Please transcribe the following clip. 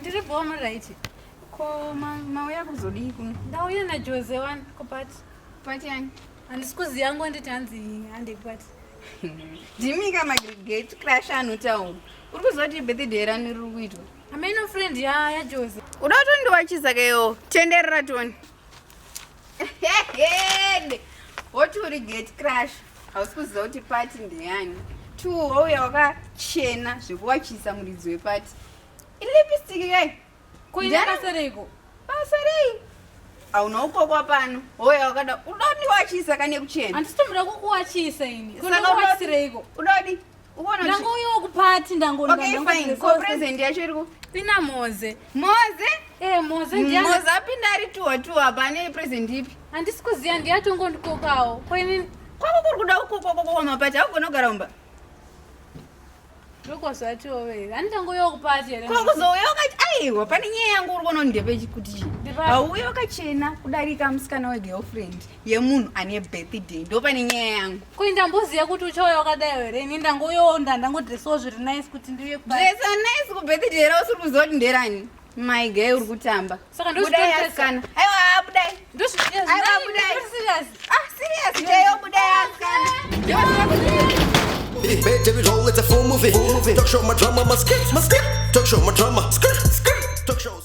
Ndiri boma right. Ko mauya kuzodii kuno? Ndauya naJose wani kupati. Pati yani? Handisi kuziva yangu anditi hanzi hande kupati. Ndimika magregate crash anotaura. Uri kuziva kuti birthday rani riri kuitwa? Ameno friend ya ya Jose. Uda kuti ndiwachisa keyo. Tenderera toni. What will you get crash? Hausi kuziva kuti party ndeyani. Two wauya wakachena zvekuwachisa muridzi weparty. Iri lipstick kai? Kuina basa reiko? Basa rei? Hauna ukokwa pano. Hoya wakada uda kuti ndiwachisa kane kuchena. Handisi tomboda kukuwachisa ini. Kuda kuti ndiwachisireiko? Uda kuti ndangoyokupatindangopresident yacho iriko ina moze moze eh, moze moze apinda ari tuwa tuwa pane president ipi handisi kuziva ndiyatongo ndikokawo koini kwako kuri kuda ukokokoko mapati akugona kugara umba kokuzouyaukati aiwa pane nyaya yangu uri konondepechikuti auya wakachena kudarika musikana wegirlfriend yemunhu ane birthday ndopane nyaya yangu koi ndamboziva kuti uchauya wakadai here ini ndangoyonda ndangodresawo zviri nice kuti ndiuye dresa nice kubirthday ra usiri kuziva kuti nderani mai gay uri kutamba saka ndodai asikana aiwa budai ndozviaiwa budai ah serious ndeyo budai asikana Bad David Hall, it's a full movie. Full movie. Talk show my drama, my skit, my skit. Talk show my drama, skit, skit. Talk shows.